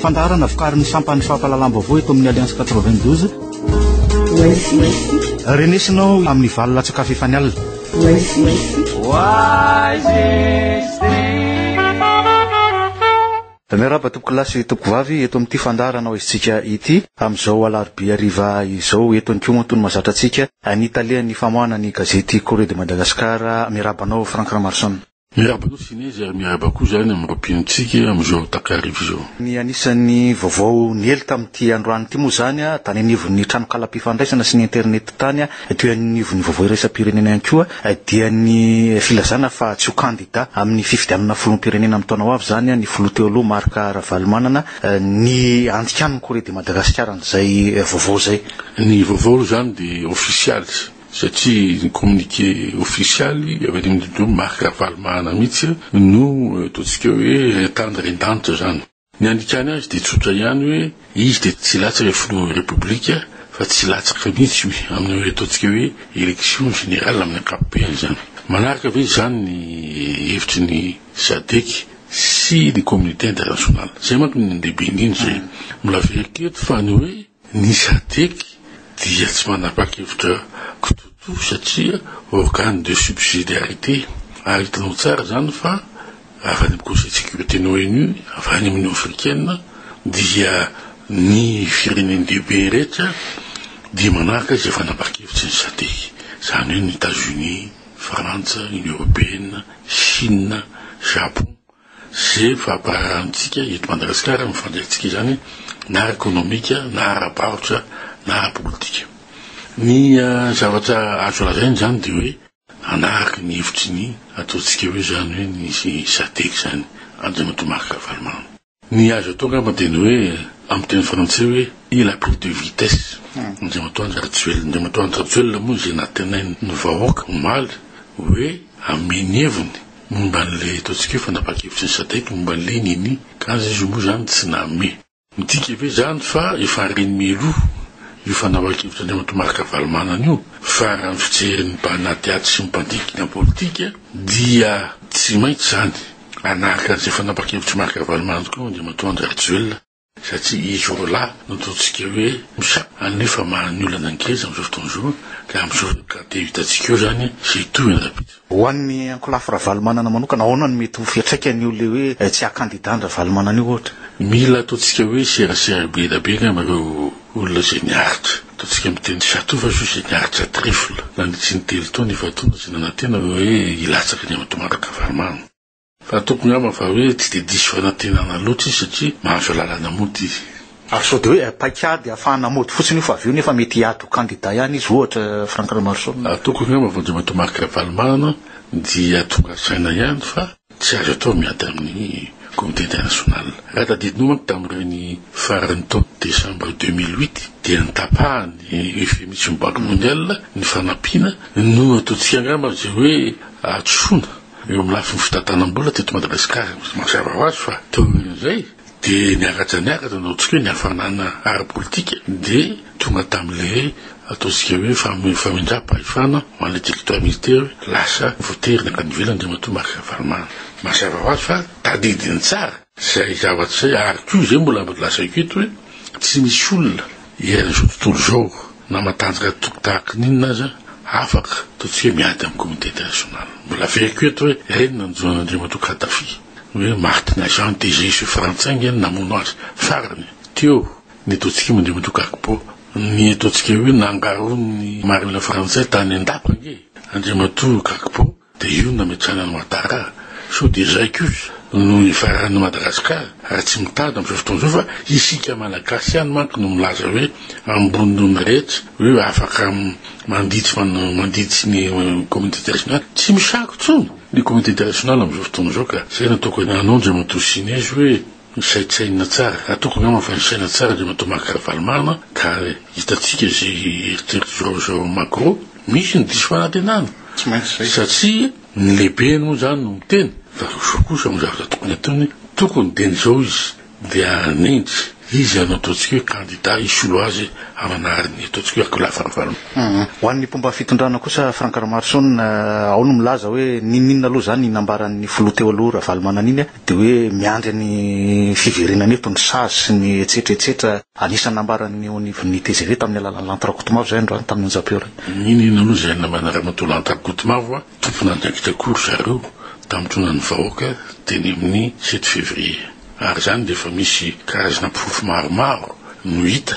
Fandaharana vokarin'ny sampan'ny fampahalalam-baovao eto amin'ny Alliance 92. Renesina ao amin'ny valo latsakafy efa nialina. Oasis. Miarahaba tompokolahy sy tompokovavy eto amin'ity fandaharana ao izntsika ity amin'izao alarobia hariva izao eto any Koa tony mazatra antsika ny talehan'ny famoahana ny gazety Courrier de Madagascar Miarahaba anao Franck Ramarson. Miarahaba anao Sinezy ary miarahaba koa izany amin'ireo mpinontsika amin'izao takariva izao. Ny anisan'ny vaovao niely tamin'ity androany ity moa izany tany anivon'ny tranonkalam-pifandraisana sy ny internet tany Ety anivon'ny vaovao iraisam-pirenena ihany koa dia ny filazana fa tsy ho kandida amin'ny fifidianana filoham-pirenena amin'ny taona ho avy izany ny filoha teo aloha Marc Ravalomanana ny andikàn'ny Corée de Madagascar an'izay vaovao izay. Ny vaovao aloha izany dia ofisialy satria ny communiqué ofisialy avy any amin'ny lehiben'i Marc Ravalomanana mihitsy no ataontsika hoe tany ren-danitra izany. Ny andikany azy dia tsotra ihany hoe izy dia tsy latsaka filohan'ny Repoblika fa tsy latsaka mihitsy io amin'ireo ataontsika hoe élection générale amin'ny ankapobeny izany. Manaraka ve izany ny hevitry ny Sadec sy ny communauté internationale? Izay manko no lehibe indrindra e. Mbola very koa eto fa ny hoe. Ny Sadec dia tsy manapa-kevitra kitoto satria organe de subsidiarité ary hitanao tsara izany fa avy any amin'ny Conseil de sécurité ny ONU, avy any amin'ny Union africaine dia ny firenen-dehibe rehetra dia manaraka izay fanapahan-kevitry ny Sadec, izany hoe ny Etats-Unis, Frantsa, Union européenne, Chine, Japon. Ze fampararantsika eto Madagasikara amin'ny fandraikantsika izany na ara-ekonomika na ara-barotra na ara-politika. Ny zavatra azo lazaina izany dia hoe hanaraka ny hevitry ny ataontsika hoe izany hoe ny SADEC izany, Andriamatoa Marc Ravalomanana. Ny azo atao angamba dia ny hoe amin'ny teny frantsay hoe il a pris deux vitesses Andriamatoa Andry Rajoelina. Andriamatoa Andry Rajoelina moa izay nantenain'ny vahoaka omaly hoe hameno heviny. Momba an'ilay ataontsika hoe fanapahan-kevitry ny sadec momba an'ilay nini ka aza izy io moa izany tsy name. Midika ve izany fa efa reny mialoha io fanapahan-kevitr' Andriamatoa Marc Ravalomanana io fa raha ny fijerin'ny mpanadihady sy ny mpandinika ny politika dia tsy maintsy izany hanaraka an'izay fanapahan-kevitr'i Marc Ravalomanana tokoa Andriamatoa Andry Rajoelina? satria izy roa lahy no ataontsika hoe mpisaa anefa maro ny olana ngeza amin'izao fotoana izao ka amin'izao ka dia hitantsika eo izany izay hitohy any rahampitso. Ho an'ny ankolafy Ravalomanana manokana, ahoana no mety ho fiantraikany io ilay hoe tsy haha-kandidà an'i Ravalomanana io ohatra? Mila ataontsika hoe serasera be dia be angamba ireo olona izay niaritra, ataontsika amin'ny teny château fa juste izay niaritra trifle nandritry ny telo taona efa-taona izay nanantena hoe hilatsaka ny amin'i Tomàtra Kavarimaha. Fa toko ngamba fa hoe tsy dia diso fanantenana loatra izy satria mahazo lalana mody izy. Ary sao dia hoe paik'ady hafahana mody fotsiny io fa avy eo nefa mety hiady ho kandida ihany izy ohatra Franck Ramaroson. Ary toko ngamba fa Andriamatoa Marc Ravalomanana dia tonga saina ihany fa tsy azo atao miady amin'ny comité international. Raha tadidinao manko tamin'ireny faran'ny taona décembre deux mille huit dia notapahan'ny UFM sy ny banque mondiale ny fanampiana no nataontsika ngamba izay hoe hadisoana Eo amin'ny lafiny fitantanam-bola teto Madagasikara, mazava ho azy fa teo aorian'izay dia niaraja niaratra no ataontsika hoe ny hafanana ara-politika dia tonga tamin'ilay ataontsika hoe famindram-pahefana ho an'ilay territoire militaire, lasa voatery nankany ivelany Andriamatoa Marc Ravalomanana. Mazava ho azy fa tadidiny tsara izay zavatra izay ary koa izay mbola lazaiko eto hoe tsy misy olona Hiaina izao tontolo izao na matanjaka toky tahaka ny inona aza, afaka toa tsy hoe miady amin'ny communauté internationale. Mbola averiko eto hoe reny nanjono an'Andriamatoa Kadhafi ny hoe Martin Agent DGSE frantsay ange no namono azy farany teo netaontsika moa Andriamatoa Gbagbo ny ataontsika hoe nangaroan'ny marina frantsay tany an-dapa ange Andriamatoa Gbagbo Dia io no nametrahana an'i Ouattara, sao dia izay kosa no hifaran'ny Madagascar, ary tsy mitady amin'izao fotoana izao fa isika Malagasy ihany manko no milaza hoe ambony noho ny rehetra, hoe afaka mandihy tsy mandihy tsy ny communauté internationale, tsy misako intsony ny communauté internationale amin'izao fotoana izao ka izay no tokony hanao Andriamatoa Sinezy hoe Misaintsaina tsara, ataoko angamba fa nisaina tsara dia Matoa Marc Ravalomanana ka hitantsika izay eritreritry João João Magro, misy ny diso fanantenana, Tsy maintsy izay. satria ny lehibe moa izany no miteny fa Rojo kosa amin'ny zavatra tokony ataony tokony dia ny izao izy dia hanendry izy hanao ataontsika hoe kandida hisolo azy hamanary ny ataontsika hoe akoholahy fahavalony. Ho an'ny mpomba fitondrana kosa Franck Ramaroson, ao no milaza hoe n'inon'inona aloha izany nambaran'ny filoha teo aloha Ravalomanana iny, Dia hoe miandry ny fiverenany eto ny sazy sy ny etsetra etsetra. Anisan'ny nambaran'ny eo anivon'ny tgv tamin'ny alalan'ny lanto Rakotomavo izay androany tamin'ny onjam-peo iray. Nino inona moa izay namana ramatoa lanto Rakotomavo a! Tompon'andraikitra koa ry zareo tamin'intronan' ny vahoaka teny amin'ny sept février. Ary izany dia efa misy karazana porofo maromaro no hita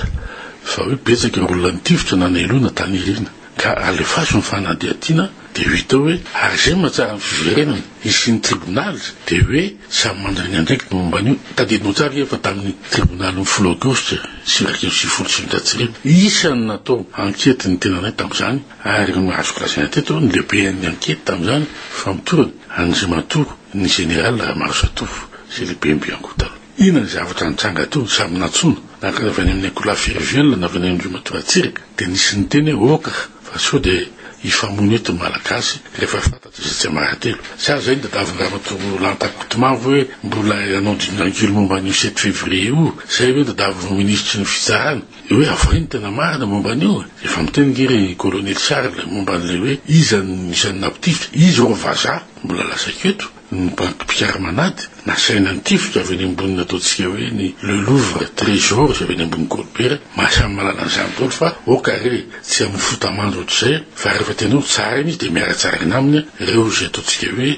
fa hoe betsaka ireo olona nitifitra na neloina tany aoriana. Ka alefaso ny fanadihadiana dia hita hoe ary izay mahatsara ny fiverenany hisian'ny tribonaly dia hoe samy mandragny andraikiny ny momba an'io. Tadidinao tsara anie fa tamin'ny tribonalin'ny folo aogositra sivy iraika amby sivifolo sy sivinjato sy arivo, isan'ny natao ankety ny tenanay tamin'izany ary azoko lazaina teto ny lehiben'ny ankety tamin'izany fa mitorina an'Andriamatoa ny Général Ramarosa Tovo izay lehiben'ny bianco taloha. Inona ny zavatra nitranga teo? Samy nantsoina, na avy any amin'ny akoholahy Firiviana, na avy any amin'ireo matoa Ratsiraka, dia nisy niteny hoe, Oka fa sao dia hifamono eto ny Malagasy rehefa fantatra izay tsy mahatelo. Sa izay ny tadiavin'i Ramatoa Lanta Kotomavo hoe mbola hanao dingangilo momba an'io sept février io? Izay ve ny tadiavin'ny Minisitry ny Fitsarana? Hoe avohay ny tena marina momba an'io? Efa miteny ange ry Kolonely Charles momba an'ilay hoe iza no isan'ny nampitifitra? Izy ireo vazaha? Mbola lazaiko eto. Ny banky mpikaraman'ady nasaina nitifitra avy eny amboniny ataontsika hoe ny Le Louvre Trésor izay avy eny ambony Golobera, maha samy mahalala an'izany daholo fa ok re tsy amin'ny fota-mando ohatr'izay fa rehefa tena hoe tsara iny izy dia miara-tsaragna aminy ireo izay ataontsika hoe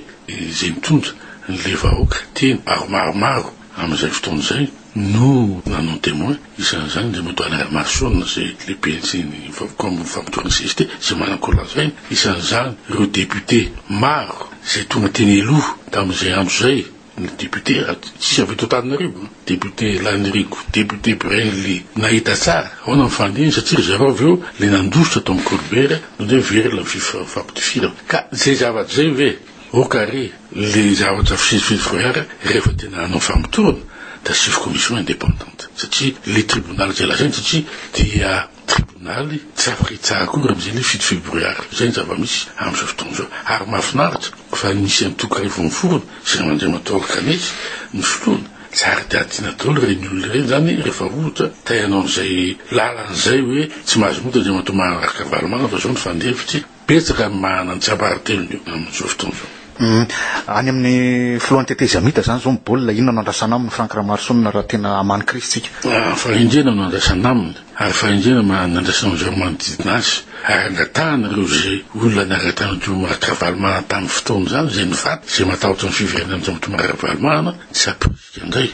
izay mitondra ny le vahoaka teny ary maromaro Amin'izay fotoana izay no nanao ny Témoin, isan'izany ilay Moto Alain Armason izay lehiben'ny valopolo ambin'ny famotorana CGT izay manana kolazaina, isan'izany ireo députés maro izay tonga teny aloha tamin'izay andro izay, ny députés tsisy avy eto Antananarivo, député Lanirigo, député Brenly nahita tsara ahoana ny fandininy satria ry zareo avy eo ilay nandositra tao amin'ny Kolibera no dia very ilay fampidifirana. Ka izay zavatra izay ve? Ok ary le zavatra fisifidy forehetra rehefa tena hanao famotorana dia asio commission independante satria le tribonaly izay lazainy satria dia tribonaly tsy afaka hitsara akory amin'izay le fisifidy forehetra izay ny zava-misy amin'izao fotoana izao ary mahafinaritra fa nisy antoko iray vao niforona izay an'Andriamatoa Alkanaiky no filoany tsara dia adina daholo ireny olona ireny izany rehefa ohatra te hanao an'izay lalana izay hoe tsy mahazo mody Andriamatoa Maharaka Ravalomanana fa izao ny fandefitry Betsaka ny mahana ny tsiambaratelony amin'izao fotoana izao. Any amin'ny filohan'ny tetezamita izany izao ny baolina, inona no andrasana aminy Franck Ramaroson raha tena hamaly ny krizy tsika? Fahendrena no andrasana aminy ary fahendrena mahana ny andrasana amin'izay manodidina azy ary angatahana ireo izay olona niaraka tamin'i Tomo Ravalomanana tamin'ny fotoana izany izay nifaty, izay matahotra ny fiverenan'i Tomo Ravalomanana tsy hampirisika indray.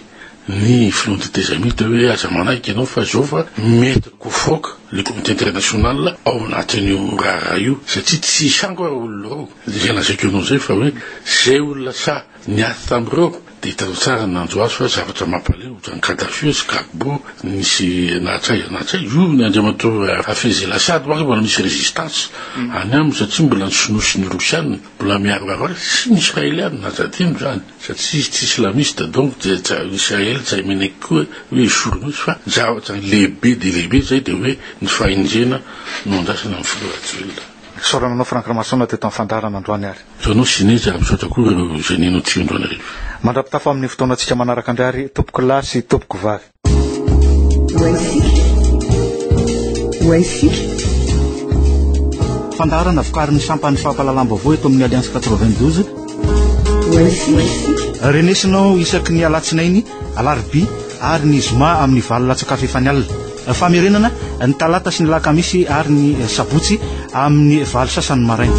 ny filoha ny tetezamita hoe aza manaiky ianao fa zao fa mety kofoaka le comité international ao anatin'io raharaha io satria tsy hisy hango ary olona roa de zay lazaiko ianao zay fa hoe zay olona sahy niaty tamin'ireo de hitanao tsara ny nanjo azy fa zavatra mampaleo ohatran'ny kadafi sy gagbo nisy nahatsaiza nahatsaiza io ny andriamatoa hafez el assad manko mbola misy résistance any aminy satria mbola ny sinoa sy ny rosiana mbola miaro azy sy ny israeliana aza adino zany Fa tsy tsy islamiste donc dia Israel tsy hay mineky koa hoe jour misy fa zavatra lehibe dia lehibe zay dia hoe ny fahendrena no andrasana amin'ny filoha rajoelina. Isaorana anao Franck Ramasoana teto amin'ny fandaharana androany ary. Toa anao Zinez ary misaotra koa ireo génie notsihondro anareo. Mandrapitafa amin'ny fotoanantsika manaraka ndry ary tompokolahy sy tompoko vavy. Fandaharana vokarin'ny sampan'ny fampahalalam-baovao eto amin'ny Alliance 92. Renesinao isaky ny alatsinainy, alarobia ary ny zoma amin'ny valo latsakafo efa ny alina. Famerenana ny talata sy ny lakamisy ary ny sabotsy amin'ny valo sasany maraina.